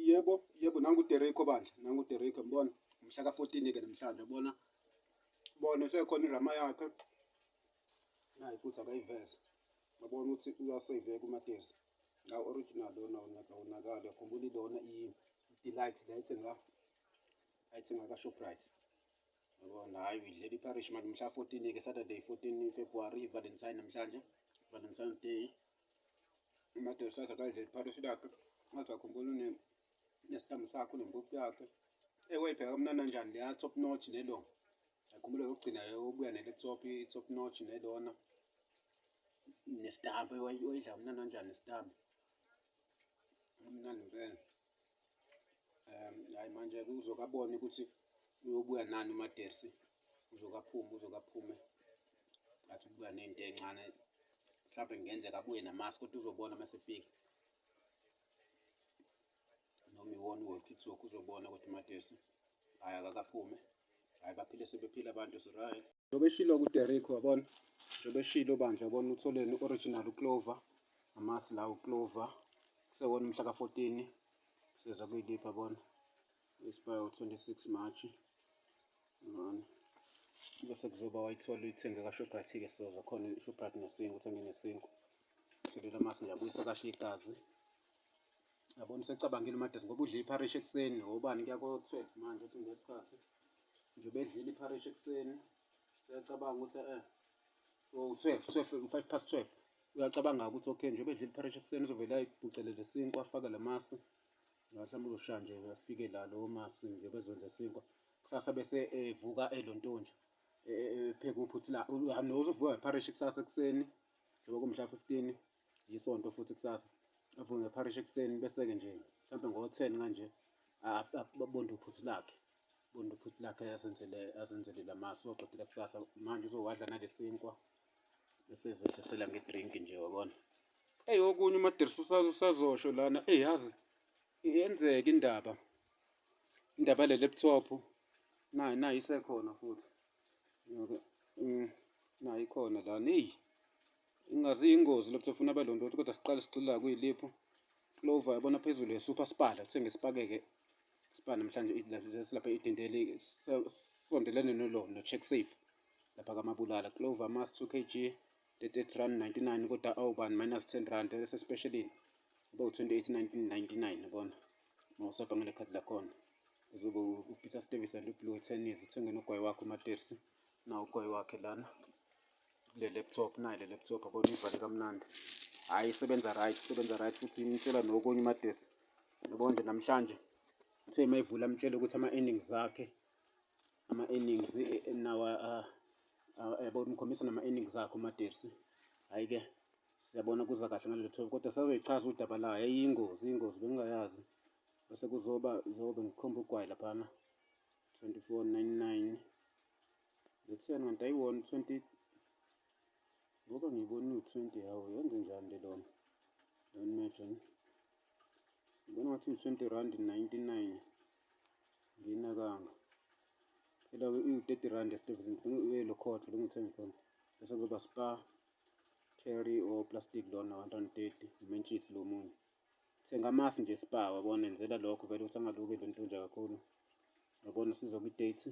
Yebo, yebo nangu uDereko bandla, nangu uDereko mbona umhla ka-14 ke namhlanje bona bona sekhona irama yakhe naye futhi akayiveze babona ukuthi uyaseyiveka umatezi la original lona unakawonakali yakhumbula ilona i-delight la ethenga ayithenga ka-shoprite yabona hhayi uyidlela iparish manje umhla 14 ke saturday 14 february valentine namhlanje valentine day amadoda saza kanje phakathi lakhe ngathi akhumbula une nesithambo sakho nempuphu yakhe ewe ibheka kumnana njani leya top notch nelo akhumbula yokugcina yobuya nele top top notch nelona nestambo wayidla kumnana njani nestambo kumnandi impela um hayi manje uzokabona ukuthi uyobuya nani umadersi uzokaphume uzokaphume athi ukubuya nento encane mhlawumbe kungenzeka abuye namasi kodwa uzobona uma sefika noma iwona uwolkitsoke uzobona ukuthi umadersi hhayi akakaphume hhayi baphile sebephile abantu siright Njengoba eshilo kuDerrick wabona, njengoba eshilo bandla yabona utholeni original uClover, amasi la uClover kusewona umhla ka-14 seza kuyiliphi yabona isibaya 26 March yabona bese kuzoba wayithola uyithenge kaShoprite-ke soza khona iShoprite nesingu uthenge nesingu shelele amasi nje abuyisa kahle igazi yabona usecabangile umadesi ngoba udle ipharishi ekuseni ngobani kuya ko-12 manje uthi ngesikhathi nje bedlile ipharishi ekuseni siyacabanga ukuthi eh u-twelve oh, twelve u-five past twelve uyacabanga ukuthi okay nje bedlile ipharishi ekuseni uzovele ayibhucelele isinkwa afake la masi mhlawumbe uzoshaya nje afike la lowo masi nje bezwenze isinkwa kusasa bese evuka eh, elontonje eh, eh, epheke uphuthu la nozuvuka ngepharishi kusasa ekuseni njengoba kumhla fifteen yisonto futhi kusasa avuke ngeparish ekuseni bese-ke nje mhlawumbe ngo-ten kanje abonde uphuthu lakhe bonde uphuthu lakhe asenzele asenzele la masu oqedile kusasa manje uzowadla nalesinkwa esezehlisela ngedrink nje wabona eyi okunye umadirisa usazosho lana eyi yazi yenzeka indaba indaba le laptop nayo nayo isekhona futhi mm, nayo ikhona lana eyi Ingazi iyingozi lokuthe ufuna abe londoti kodwa siqale sigxila kuyiliphu. Clover yabona phezulu yesupha sipala uthenge sipakeke sipha namhlanje silapha idindeli sondelene nolo no-check safe lapha kamabulala clover mas 2 kg 38 rand 99 kodwa awubani minus 10 rand esespecialini ube u-28 1999 kona uma usapha ngale khadi lakhona uzobe upeter stevis and ublue tennis uthenge nogwayi wakho umatersi nawo ugwayi wakhe lana le laptop nayo le laptop abona ivale kamnandi hhayi isebenza right isebenza right futhi imtshela nokunye umadesi yabona nje namhlanje uthe uma ivula amtshele ukuthi ama-earnings akhe ama-earnings eh, eh, nawa ah, ah, yabona umkhombisa nama-earnings akhe umadesi hhayi-ke siyabona kuza kahle ngale laptop kodwa sazoyichaza udaba layo yayiyingozi iyingozi bengingayazi bese kuzoba zobe ngikhomba ugwayi laphana 2499 Letheni kanti ayiwona 20 ngoba ngibona u-20 hawu yenze njani le lona lona imagine ngibona ngathi u-20 rand 99 nginakanga phela u-30 rand esitevisi uyelokhotho lo ngithenge khona bese kuzoba spa carry or plastic lona 130 umentshisi lo munye thenga amasi nje spa wabona enzela lokho vele usangaluke lo ntonja kakhulu wabona sizokwi-date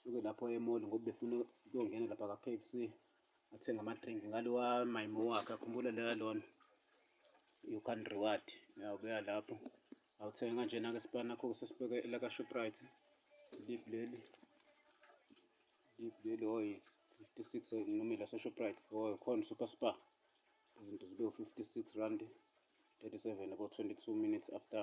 suke lapho emall ngoba befuna ukuyongena lapha ka KFC athenga ama drink ngalowa mayimo wakhe akhumbula leya lona you can reward uyabuya lapho awuthenga kanjena ke sibani nakho sesibeke la ka Shoprite deep leli deep leli oyi 56 noma la Shoprite oyi khona super spa izinto zibe 56 rand 37 about 22 minutes after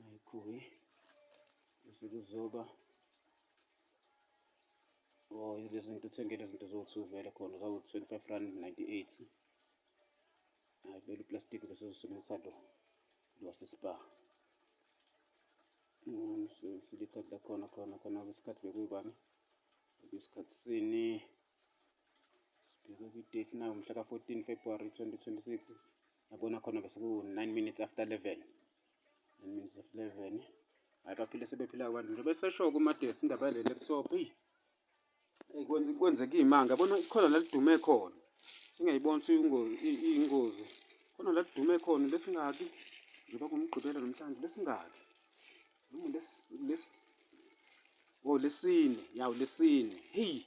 Nayikhuye bese kuzoba oh lezi zinto uthengele izinto zowu-two vele khona zawu-twenty-five rand ninety-eight hayi vele uplastic bese uzosebenzisa lo lo wasespa silithatha la khona khona khona kwesikhathi bekuyibani kwesikhathi sini sibheke kwi-date nawo mhla ka-fourteen february twenty twenty-six yabona khona-ke seku-nine minutes after eleven nine minutes after eleven hhayi baphile sebephila abantu nje beseshoke umadesi indaba yale laptop eyi eyi kwenzeka iy'manga yabona ikhona la lidume khona singayibona iyingozi khona la lidume khona besingaki njengoba kumgqibela nomhlanje besingaki Oh lesine, yawu lesine. Hey.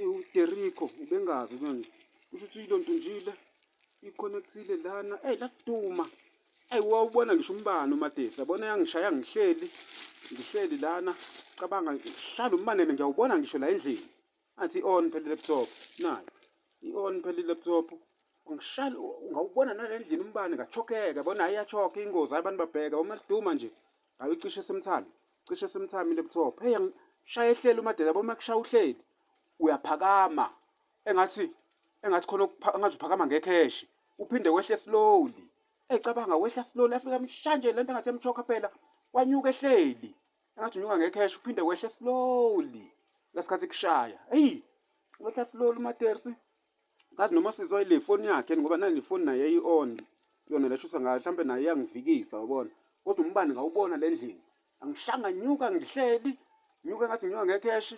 UDerico ubengazi manje. Kusho ukuthi yilo nto njile iconnectile lana. Hey lakuduma. Hey wawubona ngisho umbani uMadesi. Yabona yangishaya ngihleli. Ngihleli lana. Cabanga ngihlala umbane nje awubona ngisho la endlini. Athi on phela laptop nayo. I on phela laptop. Ungishali ungawubona nalendlini umbani ngachokeka bona ayachoka ingozi abantu babheka uma liduma nje. Ayicishe semthami. Cishe semthami laptop. Hey ngishaya ehlele umadela boma kushaya uhleli. Uyaphakama. Engathi engathi khona engathi uphakama ngekheshi. Uphinde wehle slowly. Ecabanga wehla slowly afika mshanje lento engathi emchoka phela. Wanyuka ehleli. engathi unyuka ngecash uphinde wehle slowly ngasikhathi kushaya eyi wehla slowly umatersi ngathi noma sizwa ile foni yakhe ngoba nani ifoni naye eyi-on yona leshusa ngayo mhlawumbe naye iyangivikisa ubona kodwa umbani ngawubona le ndlini angishanga nyuka ngihleli nyuka ngathi nginyuka ngecash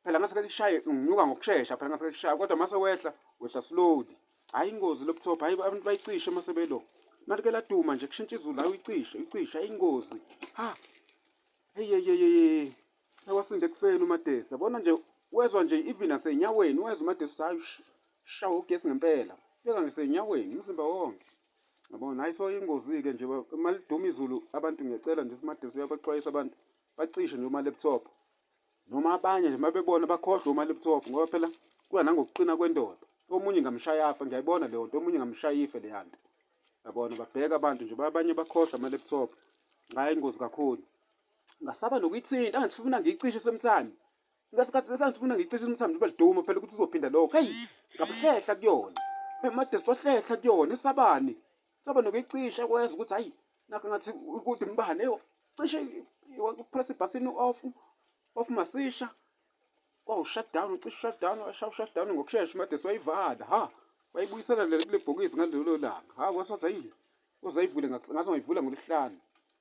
phela ngase lishaye nginyuka ngokushesha phela ngase lishaye kodwa mase wehla wehla slowly hayi ingozi laptop hayi abantu bayicishe mase belo mali ke laduma nje kushintsha izulu hayi uyicishe uyicishe hayi ingozi ha hey hey hey awasinde kufeni umadesi yabona nje wezwa nje even asenyaweni wezwa umadesi ukuthi hayi shawo ugesi ngempela fika ngisenyaweni umzimba wonke yabona hayi so ingozi-ke nje maliduma izulu abantu ngiyacela nje umadesi uyabaxwayisa abantu bacishe nje uma-laptop noma abanye nje mabebona bakhohlwe uma laptop ngoba phela kuya nangokuqina kwendoda omunye ngamshaya afa ngiyayibona leyo nto omunye ngamshaya ife leya nto yabona babheka abantu nje abanye bakhohlwa ama-laptop ngaye ingozi kakhulu ngasaba nokuyithinta angathi funa ngiyicishe sometime ngasikhathi lesangithi funa ngiyicishe sometime njengoba liduma phela ukuthi uzophinda lokho heyi ngabuhlehla kuyona emadesi wahlehla kuyona esabani Saba nokuyicisha kwenza ukuthi hayi nakho ngathi ukuthi umbane cishe upress ibhathini off off masisha kwawushut down ucishe shut down washawu shut down ngokushesha made soyivala ha wayibuyisela le kule bhokisi ngalelo langa ha kwasothi hayi uzayivule ngathi ngayivula ngolesihlanu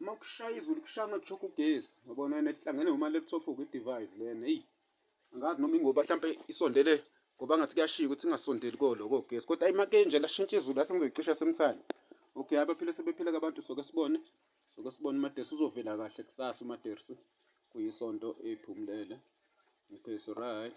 uma kushaya izulu kushaya ama-chalk ugesi yabona yena kuhlangene ngoma-laptop kwi-device lena eyi angazi noma ingoba mhlawumpe isondele ngoba ngathi kuyashiya ukuthi ingasondeli koloko gesi kodwa ayi make nje lashintsha izulu lase ngizoyicisha semthane okay abaphile sebephile kabantu soke sibone soke sibone umadersi uzovela kahle kusasa umadersi kuyisonto ephumulele okay so right